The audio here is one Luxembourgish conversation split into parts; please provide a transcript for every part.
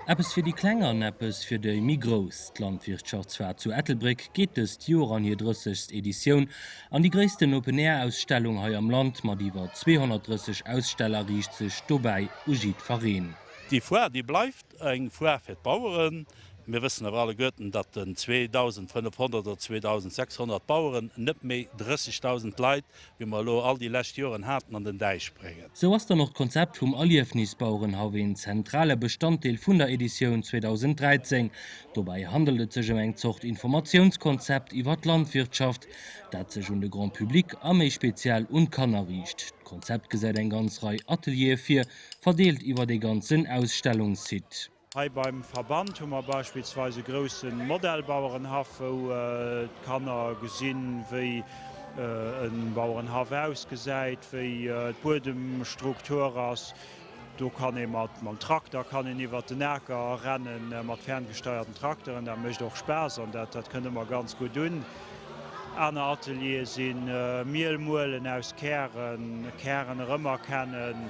Eppes fir déi Kleng an eppes fir déi méi Grouss, D'Landwirtschaftsfar zu Ettelbréck geet dëst Joer an hir drëssegst Editioun an. Déi gréissten Open-Air-Ausstellung hei am Land mat iwwer 230 Aussteller riicht sech dobäi u jiddfereen. Déi Foire, déi bleift eng Foire fir d'Baueren. Mir wëssen awer alleguerten, datt den 2.500 oder 2.600 Baueren net méi 30.000 Leit, wéi mer elo all déi lescht Joren haten, an den Däich bréngen. Sou ass dann och d'Konzept vum Erliefnisbauerenhaff een zentrale Bestanddeel vun der Editioun 2013. Dobäi handelt et sech ëm eng Zort Informatiounskonzept iwwer d'Landwirtschaft, dat sech un de Grand public a méi speziell un d'Kanner riicht. D'Konzept gesäit eng ganz Rei Ateliere vir, verdeelt iwwer de ganzen Ausstellungssite. Hei beim Verband hu mer beispillsweis e grousse Modellbauerenhaff, wou d'Kanner gesinn, wéi e Bauerenhaff ausgesäit, wéi d'Buedemstruktur ass. Do kann ee mam Trakter kann een iwwert den Aker rennen, mat ferngesteierten Trakteren. Dat mécht och Spaass an dat dat kënnt ëmmer ganz gutt un. Aner Ateliere si Miel muelen aus Kären, Kären erëmerkennen.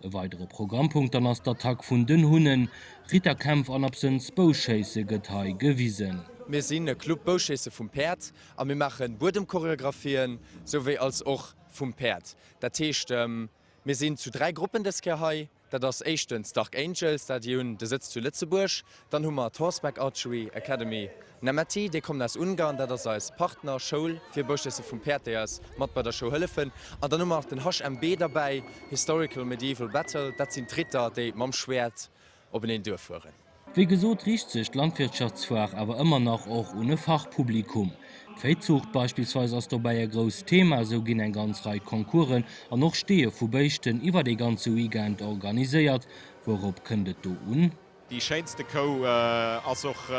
E weidere Programmpunkt dann ass d'Attack vun den Hunnen. Ritter, Kämpf an absënns Bouschéisse gëtt hei gewisen. Mir sinn e Club Bouschéisse vum Päerd a mir maache Buedemchoreographien souwéi als och vum Päerd. Dat heescht mir sinn zu 3 Gruppen dës Kéier hei. Dat ass éischtens Dark Angels, dat déi hunn de Sëtz zu Lëtzebuerg, Dann hu mer d'Horseback Archery Academy Nemetii, déi kommen aus Ungarn, dat ass eis Partner Schoul fir Bouschéisse vum Päerd, déi eis mat bei der Show hëllefen. An dann hu mer nach den HMB derbäi, Historical Medieval Battle, dat sinn d'Ritter, déi mam Schwäert openeen duer fueren. Wéi gesot riicht sech d'Landwirtschaftsfoire awer ëmmer nach och un e Fachpublikum. D'Véizuucht beispillsweis ass dobäi e grousst Thema, esou ginn eng ganz Rei Concoursen an och Steeë vu Béischten iwwert ee ganze Weekend organiséiert. Wourop kënnt et do un? Déi schéinste Kou ass och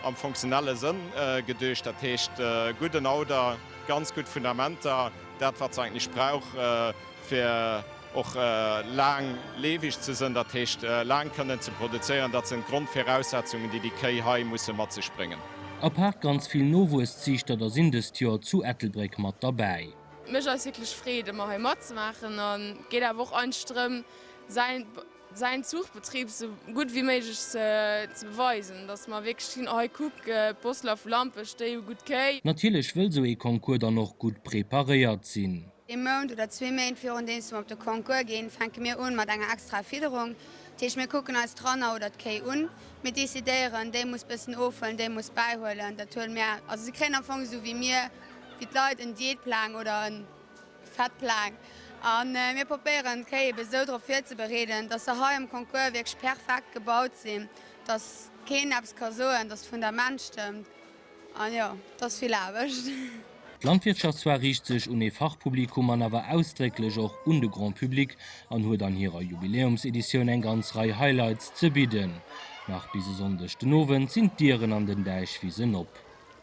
am funktionelle Sënn geduecht, dat heescht gudden Auder, ganz gutt Fundamenter, dat wat se eigentlech brauch fir och laang leefeg ze sënn, dat heescht laang kënnen ze produzéieren, dat sinn d'Grondviraussetzungen déi déi Kéi hei musse mat sech bréngen. Apaart ganz vill Nowuesziichter, da sinn dëst Joer zu Ettelbréck mat derbäi. Mech ass wierklech Freed ëmmer hei matzemaachen an geet awer och eigentlech drëm säin säin Zuchbetrib esou gutt wéi méiglech ze beweisen, dass mer wierklech sinn, hei kuck, d'Bosseler vu Lampech, déi hu gutt Kéi. Natierlech wëll esou ee Concours dann och gutt preparéiert sinn. Ee Mount oder zwee Méint virundeems mer op de Concours ginn, fänke mir un mat enger extraer Fidderung. Dat heescht, mir kucken eis d'Ranner oder d'Kéi un, mir decidéieren, déi muss bëssen ofhuelen, déi muss bäihuelen, dat huele mir, also si kréien am Fong esou wéi mir, wéi d'Leit en Diätplang oder en. Fett laang a mir probéieren d'Kéi eben esou drop virzebereeden, dass se hei um Concours wierklech perfekt gebaut sinn, dass keen eppes ka soen, dass d'Fundament stëmmt. An jo, et ass vill Aarbecht. D'Landwirtschaft zwar riicht sech un ee Fachpublikum an awer ausdrécklech och un de Grand Public an huet an hirer Jubiläumseditioun eng ganz Rei Highlights ze bidden. Nach bis e Sonndeg den Owend sinn d'Dieren an den Däichwisen op.